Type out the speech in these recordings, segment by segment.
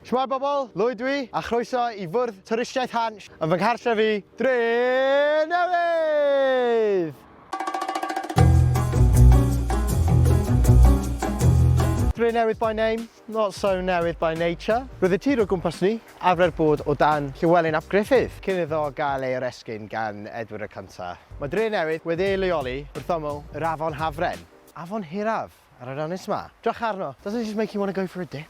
Shwmae bobl, Lwyd dwi, a chroeso i fwrdd twristiaeth Hansh yn fy nghartref i, Drenewydd! Drenewydd by name, not so newydd by nature. Roedd y tir o gwmpas ni, arfer bod o dan Llywelyn ap Gruffydd, cyn iddo gael ei oresgyn gan Edward y Cyntaf. Mae Drenewydd wedi ei leoli wrth ymyl yr afon Hafren, afon hiraf ar yr ynys 'ma. Drycha arno, doesn't it just make you want to go for a dip?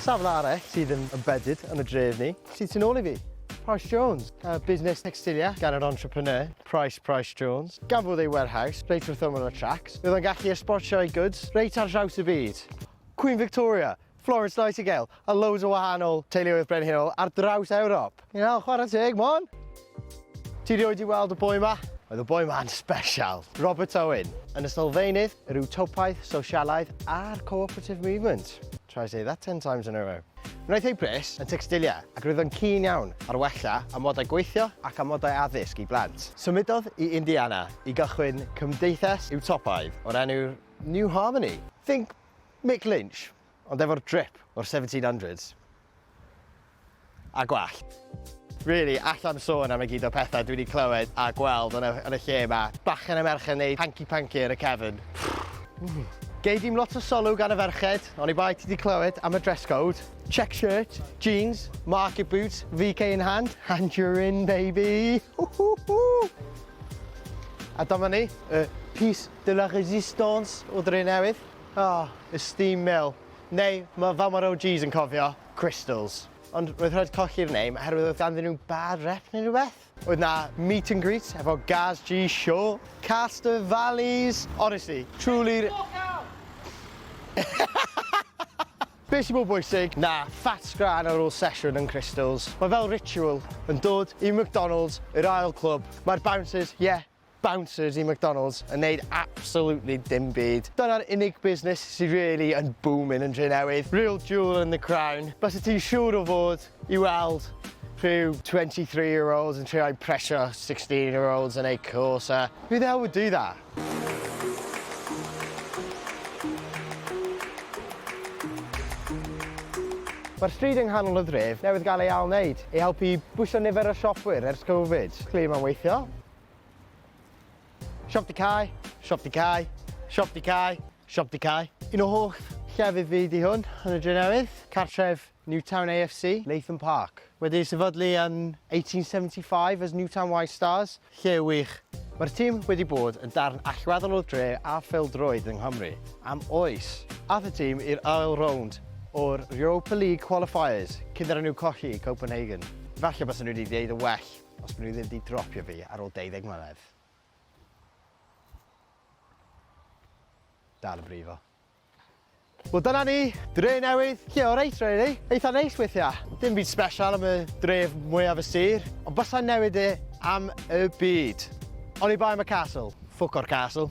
Safle arall sydd yn embedded yn y dref ni sydd tu nôl i fi, Price Jones, y busnes tecstilia gan yr entrepreneur, Price Price Jones. Gafodd ei warehouse reit wrth ymyl y tracs, bydd o'n gallu esbortio ei goods reit ar draws y byd. Queen Victoria, Florence Nightingale a loads o wahanol teuluoedd brenhinol ar draws Ewrop. Iawn, chwarae teg, Môn. Ti rioed i weld y boi ma? Oedd y boi ma'n special. Robert Owen, yn y sylfaenydd, yr Utopiaeth, Sosialaidd a'r Co-operative Movement. Try say that ten times in a row. Wnaeth ei bris yn tecstilia ac roedd o'n keen iawn ar wella amodau gweithio ac amodau addysg i blant. Symudodd i Indiana i gychwyn cymdeithas Utopaidd o'r enw New Harmony. Think Mick Lynch. Ond efo'r drip o'r seventeen hundreds a gwallt. Really, alla'm sôn am y gyd o pethau dwi 'di clywed a gweld yn y, yn y lle 'ma. Bachgen a merch yn neud hanky panky ar y cefn. Gei dim lot o sylw gan y ferched, oni bai ti 'di clywed am y dress code. Check shirt, jeans, market boots, VK in hand, and you're in baby! A dyma ni, y piece de la resistance o Drenewydd. Aww, esteem Mill. Neu mae fel mae'r OGs yn cofio, Crystals. Ond roedd rhaid colli'r name oherwydd oedd ganddyn nhw bad rep neu rhywbeth? Oedd 'na meet and greet efo Gaz G Show, Castor Valleys, honestly, truly'r... Be sy'n mor bwysig na fat sgran ar ôl sesiwn yn Crystals? Mae fel ritual yn dod i McDonalds i'r ail clwb, mae'r bouncers, ie, bouncers i McDonalds yn neud absolutely dim byd. Dyna'r unig busnes sydd really yn boomin yn Drenewydd. Real jewel in the crown. Byse ti'n siŵr o fod i weld rhyw 23 year olds yn trio impresio 16 year olds yn eu cwsa. Who the hell would do that? Mae'r stryd yng nghanol y dref newydd gael ei ail-wneud i helpu i bwyso nifer y siopwyr ers Covid. Clearly mae'n weithio. Siop di Cai, Siop di Cai, Siop di Cai, Siop di Cai. Un o holl llefydd fi di hwn yn y Drenewydd, cartref Newtown AFC, Latham Park. Wedi ei sefydlu yn 1875 as Newtown White Stars, lle wych. Mae'r tîm wedi bod yn darn allweddol o dre a phêl-droed yng Nghymru am oes. Ath y tîm i'r ail rownd o'r Europa League Qualifiers cyn iddyn nhw colli i Copenhagen. Falle bysen nhw wedi gwneud yn well. Os maen nhw ddim wedi dropio fi ar ôl 20 mlynedd. Dal yn brifo. Wel dyna ni, dre newydd, lle o reit really, eitha neis weithiau. Dim byd special am y dref mwyaf y sir, ond bysau newid e am y byd. Oni bai am y castle, ffwc o'r castle.